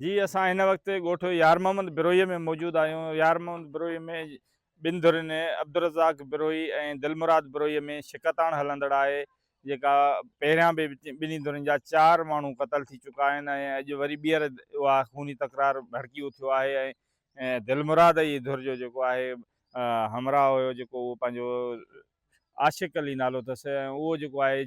جي اسان هن وقت ڳوٺ يار محمد بروهي ۾ موجود آهيون يار محمد بروهي ۾ ٻن ڌرين عبدالرزاق بروهي ۽ دلمراد بروهي ۾ شڪتاڻ هلندڙ آهي جيڪا پهريان به ٻنهي ڌرين جا چار ماڻهو قتل ٿي چڪا آهن ۽ اڄ وري ٻيهر اها خوني تڪرار ڀڙڪي اٿيو آهي ۽ دلمراد جي ڌر جو جيڪو آهي همراهه هيو جيڪو اهو پنهنجو عاشق علي نالو اٿس ۽ اهو جيڪو آهي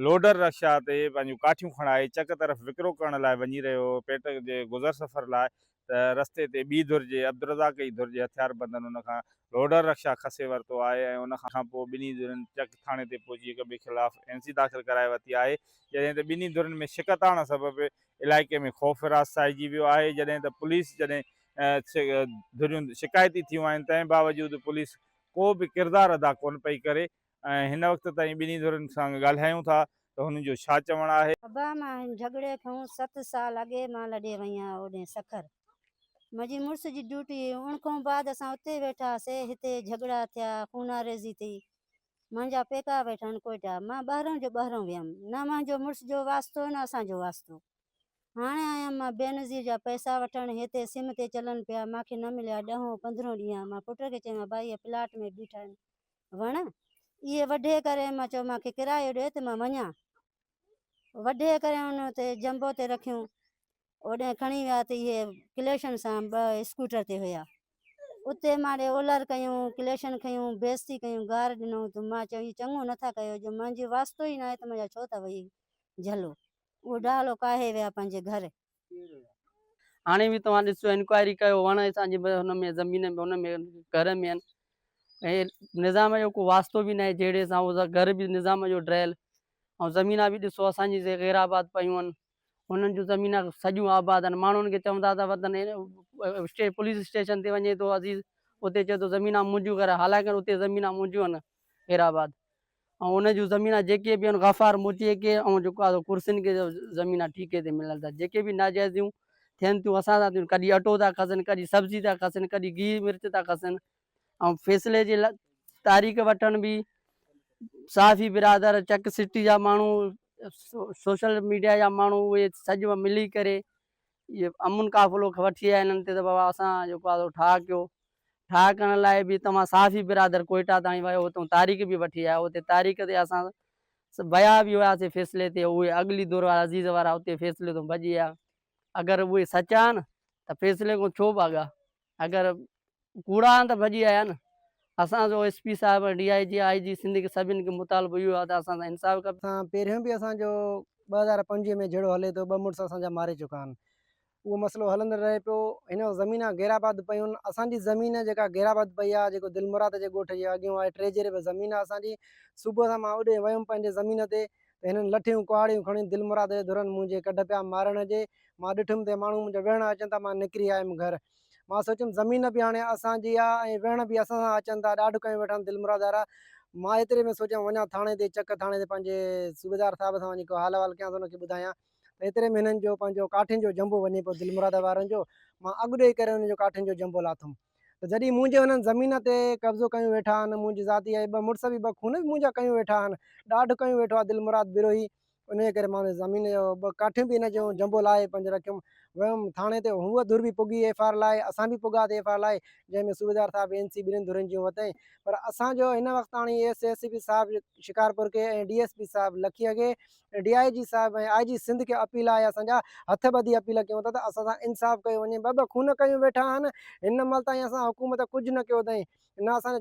لوڊر رڪشا تي پنهنجون ڪاٺيون کڻائي چڪ طرف وڪرو ڪرڻ لاء وڃي رهيو هو پيٽ جي گذر سفر لاء ته رستي تي ٻي ڌر جي عبدالرزاق ئي ڌر جي هٿياربندن ان کان لوڊر رڪشا کسي ورتو آهي ۽ ان کانپوء ٻنهي ڌرين چڪ ٿاڻي تي پهچي هڪ ٻئي خلاف اين سي داخل ڪرائي ورتي آهي جڏهن ته ٻنهي ڌرين ۾ شڪست آڻڻ سبب علائقي ۾ خوف وراث ڇائجي ويو آهي جڏهن ته پوليس جڏهن ڌريون شڪايتي ٿيون آهن تنهن باوجود پوليس ڪو به ڪردار ادا ڪونه پئي ڪري ۽ هن وقت تائين ٻنهي ڌرين سان ڳالهايون ٿا ته هنن جو ڇا چوڻ آهي. ابا مان هن جهڳڙي کون ست سال اڳي مان لڏي وئي آهيان اوڏي سکر منهنجي مڙس جي ڊيوٽي هئي ان کون بعد اسان اتي ويٺا هاسي هتي جهڳڙا ٿيا خوناريزي ٿي منهنجا پيڪا ويٺا آهن ڪوئيٽا مان ٻهرون جو ٻهرون ويم نه منهنجو مڙس جو واسطو نه اسان جو واسطو. هاڻي آيم مان بينظير جا پئسا وٺڻ، هتي سم تي چلن پيا، مان کي نه مليا، ڏهون پندرهون ڏينهن، مان پٽ کي چيم ها ڀائي هي پلاٽ ۾ بيٺا آهن وڻ، اهي وڍي ڪري مان چيو مان کي ڪرايو ڏي ته مان وڃان، وڍي ڪري هن اتي جنبو تي رکيون، اوڏانهن کڻي ويا ته اهي ڪليشن سان ٻه اسڪوٽر تي هيا، اتي مان ڏي اولر ڪيون، ڪليشن کنيون، بيزتي ڪيون، گار ڏنو ته مان چيو هي چڱو نه ٿا ڪيو، جو منهنجو واسطو ئي ناهي ته منهنجا ڇو ٿا وهي جهلو. اوڍاڙو ڪاهي ويا پنهنجي گهر. هاڻي به توهان ڏسو انڪوائري ڪيو وڻ اسان جي هن ۾ زمين ۾ ان ۾ گهر ۾ آهن ۽ نظام جو ڪو واسطو به ناهي جهيڙي سان اهو گهر به نظام جو ڊهيل ۽ زمينا به ڏسو اسان جي سي غير آباد پيون آهن انهن جون زمينا سڄيون آباد آهن ماڻهن کي چوندا ته وطن اسٽي پوليس اسٽيشن تي وڃي ٿو عزيز اتي چئي ٿو زمينا منهنجون ڪر حالانڪه اتي زمينا منهنجون آهن غير آباد ۽ ان جون زمينان جيڪي به ان غفار موتيء کي ۽ جيڪو آ سو ڪرسين کي زمينان ٺيڪي تي ملن ٿا جيڪي به ناجائزيون ٿين ٿيون اسان سان ٿيون ڪڏي اٽو ٿا کسن ڪڏي سبزي ٿا کسن ڪڏي گيهه مرچ ٿا کسن ۽ فيصلي جي تاريخ وٺڻ به صحافي برادر چڪ سٽي جا ماڻهو سوشل ميڊيا جا ماڻهو اهي سڄ ملي ڪري اهي امن قافلو کي وٺي آيا انهن تي ته بابا اسان جيڪو آهي سو ٺاهه ڪيو ٺاهه ڪرڻ لاء به تمام صحافي برادر ڪوئيٽا تائين ويو اتون تاريخ به وٺي آيو اتي تاريخ تي اسان ويا به هياسي فيصلي تي اهي اڳلي دور وارا عزيز وارا اتي فيصلي تون ڀڄي آيا اگر اهي سچا آهن ته فيصلي کان ڇو ڀاڳا اگر ڪوڙا آهن ته ڀڄي آيا نه. اسان جو ايس پي صاحب D I G I G Sindh کي سڀني کي مطالبو اهو آهي ته اسان سان انصاف ڪبي. سان پهريون به اسان جو ٻه هزار پنجويهه ۾ جهيڙو هلي ٿو ٻه مڙس اسان جا ماري چڪا آهن اهو مسئلو هلندڙ رهي پيو هن وقت زمينا غير آباد پيون اسان جي زمين جيڪا غير آباد پئي آهي جيڪو دلمراد جي ڳوٺ جي اڳيون آهي ٽي جهيري ۾ زمين آهي اسان جي صبح سان مان اوڏي ويم پنهنجي زمين تي ته هنن لٺيون ڪهاڙيون کڻي دلمراد جي ڌرن منهنجي ڪڍ پيا مارڻ جي مان ڏٺم ته ماڻهو منهنجا ويهڻ اچن ٿا مان نڪري آيم گهر مان سوچيم زمين به هاڻي اسان جي آ ۽ ويهڻ به اسان سان اچن ٿا ڏاڍ ڪيون ويٺا آهن دلمراد وارا مان ايتري ۾ سوچيم وڃان ٿاڻي تي چڪ ٿاڻي تي پنهنجي صوبيدار صاحب سان وڃي ڪو حال احوال ڪيانس ان کي ٻڌايان ته ايتري ۾ هنن جو پنهنجو ڪاٺين جو جنبو وڃي پيو دلمراد وارن جو مان اڳ ڏي ڪري هنن جو ڪاٺين جو جنبو لاٿم ته جڏهن منهنجي انهن زمين تي قبضو ڪيون ويٺا آهن، منهنجي ذاتي اهي ٻه مڙس به ٻه خون به منهنجا ڪيون ويٺا آهن، ڏاڍ ڪيون ويٺو آهي دلمراد بروهي، انهيء ڪري مان انهيء زمين جو ٻه ڪاٺيون به هن جون جنبو لاهي پنج رکيم، ويم ٿاڻي تي هوء ڌر به پڳي ايف آر لاهي، اسان به پڳاسين ايف آر لاهي، جنهن ۾ صوبيدار صاحب اين سي ٻنهين ڌرين جون وتين، پر اسان جو هن وقت تاڻي ايس ايس پي صاحب شڪارپور کي ۽ ڊي ايس پي صاحب لکي اڳي ڊي آء جي صاحب ۽ آء جي سنڌ کي اپيل آهي اسان جا هٿ ٻڌي اپيل ڪيون ٿا ته اسان سان انصاف ڪيو وڃي ٻه ٻه خون ڪيون ويٺا آهن هن مهل تائين اسان حڪومت ڪجهه نه ڪيو اٿائين نه اسان جا